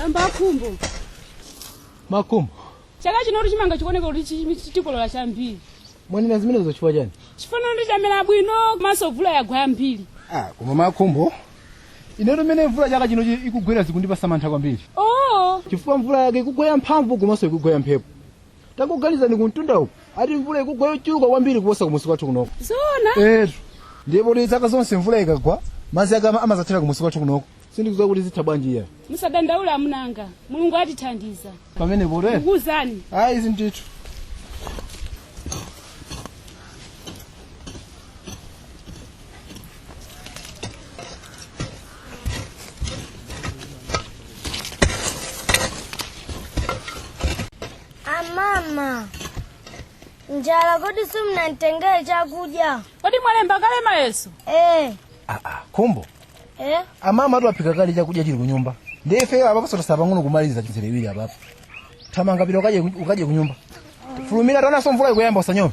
amba akhumbo makumbo chaka chino kuti chimanga chikuoneka kuti chi- chi- tikolola chambiri mwanena zimenezo chifukwa chani chifukwa ndi chamera bwino komanso mvula yagwa yambiri ah, koma makumbo inetu mmene mvula chaka chino i- ikugwera zikundipasa mantha kwambiri oh chifukwa mvula yake ikugwa yamphamvu komanso ikugwa yamphepo tangoganizani kumtunda uku ati mvula ikugwa yochuluka kwambiri kuposa kumusi kwathu kunoko zona etu ndipotu zaka zonse mvula ikagwa madzi ake ama- amazathera kumusi kwathu kunoko sindikudziwa kuti zitha bwanji iyayi musadandaule amuna anga mulungu atithandiza pamenepo ndikuwuzani ayi ndithu amama njala kodi simunanditengere chakudya kodi mwalemba kale mayeso ee aa khumbo Eh? amama ati aphika kale chakudya chili kunyumba ndiye ife apapo sotasala pang'ono kumaliza mizere iwiri apapo thamanga pita ukaje ukaje kunyumba fulumira taonanso mvula ikuyamba usanyowe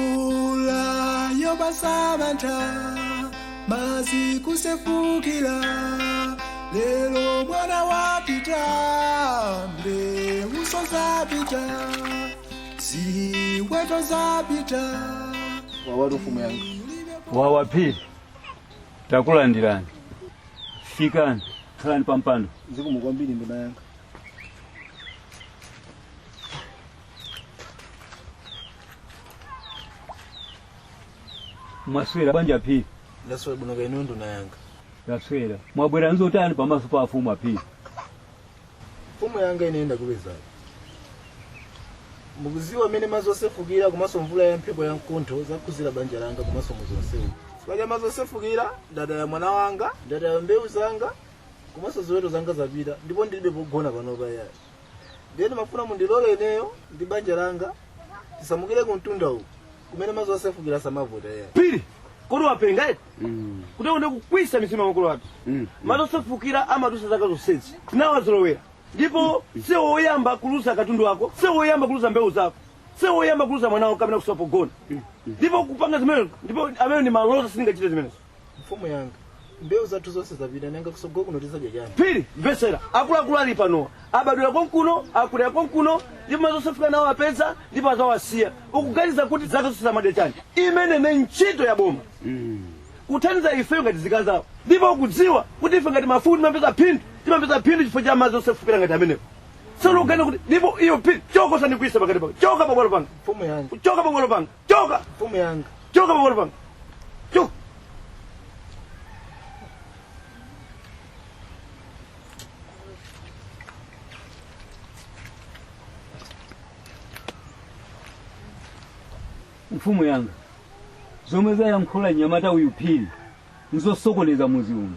mvula yopasa mantha mazi kusefukila lelo mwana wapita mbeuso zapita ziweto zapita wawatu mfumu yanga wawa phiri takulandirani fikani khalani pampando zikomo kwambiri nduna yanga mwaswera bwanji a phiri ndaswera bwino kaya inu nduna yanga ndaswera mwabwera nzotani pamaso pa afumu aphiri mfumu yanga ine ndakupezani mukuziwa mmene madzi osefukira komanso mvula ya mphepo ya mkuntho zakhudzira banja langa komanso muzi onsewu chifukwa cha madzi osefukira ndataya mwana wanga ndataya mbewu zanga komanso ziweto zanga zapita ndipo ndilibe pogona panopa yayi ndiye ndimafuna mundilole ineyo ndi banja langa tisamukire ku mtunda uku kumene madzi osefukira samavuta iyayi phiri kodi wapenga eti ukutionetsa kukwisa mizimu ya makolo athu madzi osefukira amadusa zaka zonsezi tinawazolowera ndipo siwe woyamba kuluza katundu wako siwe woyamba kuluza mbewu zako siwe woyamba kuluza mwana wako kapena kusowa pogona ndipo kupanga zimenezo ndipo amene ndi malodza sindingachite zimenezo mfumu yanga mbewu zathu zonse zapita nanga kusogolo kuno tizadya chani phiri mvetsera akuluakulu ali panowa abadwira konkuno akulira konkuno ndipo madzi osefukira nawo apeza ndipo azawasiya ukuganiza kuti zaka zonsezi amadya chani imeneyo ndi ntchito ya boma kuthandiza ife ngati nzika zawo ndipo ukudziwa kuti ife ngati mafumu timapeza phindu timapeza phindu chifukwa cha madzi osefukira ngati amenewo sono ukuganiza kuti ndipo iwe phiri choka usandikwiyise pakati panga choka pabwalo panga mfumu yanga choka pabwalo panga choka mfumu yanga choka pabwalo panga choka mfumu yanga zomwe wayankhula nyamata uyu phiri nzosokoneza muzi uno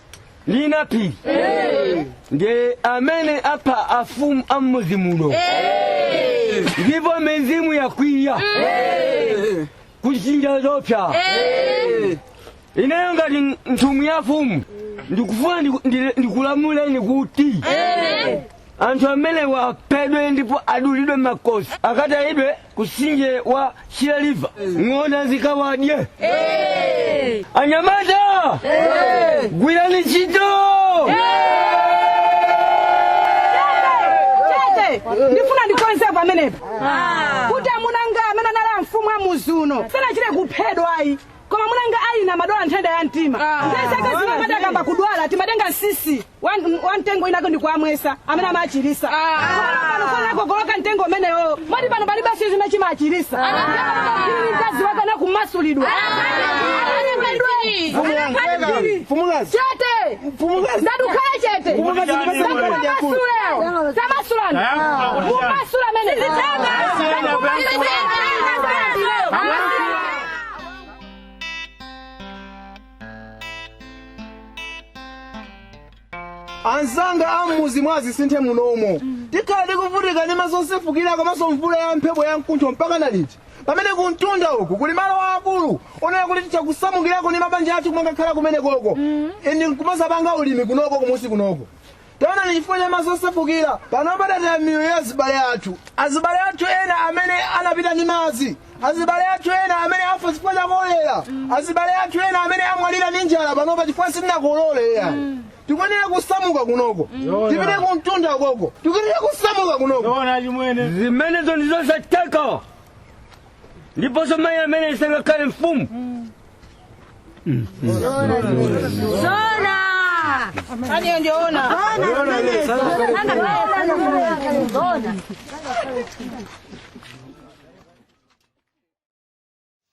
ndi naphiri ndiye amene apha afumu a m'mudzi muno ndipo mizimu yakwiya kutchinga zoopsa ineyo ngati nthumwi ya mfumu ndikufuna ndikulamuleni kuti anthu amenewa aphedwe ndipo adulidwe makosi akatayidwe kusinje wa shire river ng'ona zikawadye anyamata gwirani ntchito Chete, ndifuna ndikonze pamenepo kuti amuna anga amene anali amfumu a muzi uno sanachite kuphedwa ayi koma amuna anga ine amadwala nthenda ya mtima nthawi zake zina amati akayamba kudwala timatenga msisi wa mtengo winawake ndi kuwamwesa amene amachirisa pano unakokoloka mtengo umenewo moti pano palibe chimene chimachirisa mkazi wake anakumasulidwa Mfumukazi. chete Mfumukazi. ndati khala chete Mfumukazi, ndipase mkono wako. Tamasula. tamasulani Ah, mumasula mene Sitaka. Sitaka. anzanga ammuzi mwa zisinthe munomo tikhala tikuvutika ndi madzi osefukira komanso mvula ya mphepo ya mkuntho mpaka na liti pamene kumtunda uku kuli malo aakulu onena kuti titha kusamukirako ndi mabanja athu kumangakhala kumene koko and nkumazapanga ulimi kunoko kumunsi kunoko Taonani chifukwa cha madzi osefukira, panopa tataya miyoyo ya azibale athu, azibale athu ena amene anapita ndi madzi, azibale athu ena amene afa chifukwa cha kolera, azibale athu ena amene amwalira ndi njala panopa chifukwa sitinakolole ya. Tikuyenera kusamuka kunoko, tipite kumtunda koko, tikuyenera kusamuka kunoko. Zoona chimwene. Zimenezo ndi zosatheka. ndiponso mayi amene sangakhale mfumu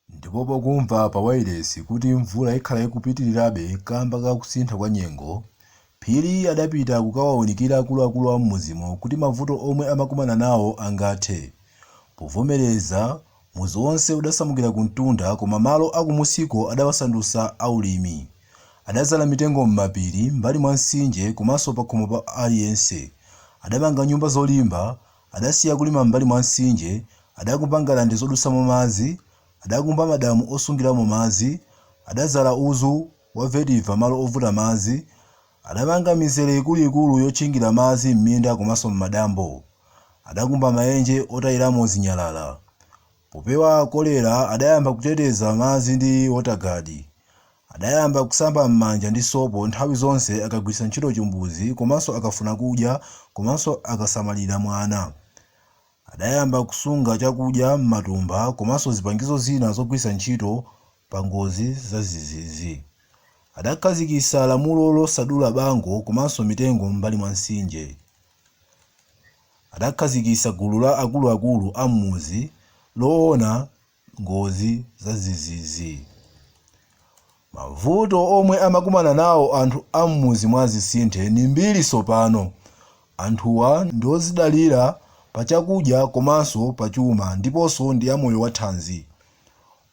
ndipo pokumva pa wailesi kuti mvula ikhala ikupitirirabe kamba ka kusintha kwa nyengo Phiri adapita kukawaunikira akuluakulu a m'mudzimo kuti mavuto omwe amakumana nawo angathe. Povomereza, mudzi onse udasamukira kumtunda koma malo a kumusiko adawasandutsa a ulimi. Adadzala mitengo m'mapiri, mbali mwa mtsinje komanso pakhomo pa aliyense. Adamanga nyumba zolimba, adasiya kulima m'mbali mwa mtsinje, adakumba ngalande zodutsamo madzi, adakumba madamu osungiramo madzi, adadzala udzu, Wa vetiva malo ovuta madzi adamanga mizere ikuluikulu yotchingira madzi m'minda komanso m'madambo. Adakumba maenje otayiramo zinyalala. Popewa kolera adayamba kuteteza madzi ndi wotagadi. Adayamba kusamba m'manja ndi sopo nthawi zonse akagwiritsa ntchito chimbuzi komanso akafuna kudya komanso akasamalira mwana. Adayamba kusunga chakudya m'matumba komanso zipangizo zina zogwiritsa ntchito pa ngozi zadzidzidzi. Adakhazikitsa lamulo losadula bango komanso mitengo m'mbali mwa mtsinje. Adakhazikitsa gulu la akuluakulu a m'mudzi loona ngozi zadzidzidzi. Mavuto omwe amakumana nawo anthu a m'mudzi mwa Zisinthe ni mbiri tsopano. Anthuwa ndi odzidalira pa chakudya komanso pa chuma ndiponso ndi amoyo wathanzi.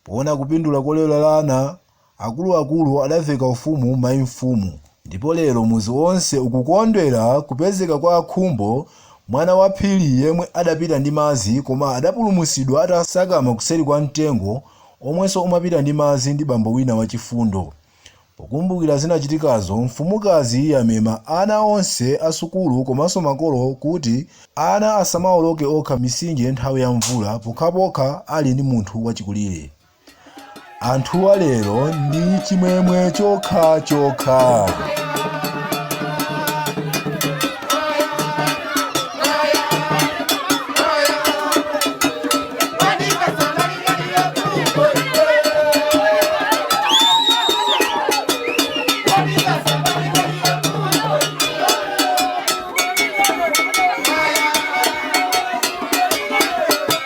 Poona kupindula kolerana, Akuluakulu adaveka ufumu mayi mfumu ndipo lero mudzi wonse ukukondwera kupezeka kwa Khumbo mwana wa Phiri yemwe adapita ndi madzi koma adapulumutsidwa atatsakama kuseri kwa mtengo omwenso umapita ndi madzi ndi bambo wina wachifundo. Pokumbukira zinachitikazo mfumukazi yamema ana onse a sukulu komanso makolo kuti ana asamaoloke okha mitsinje nthawi ya mvula pokhapokha ali ndi munthu wachikulire. anthuwa lero ndi chimwemwe chokhachokha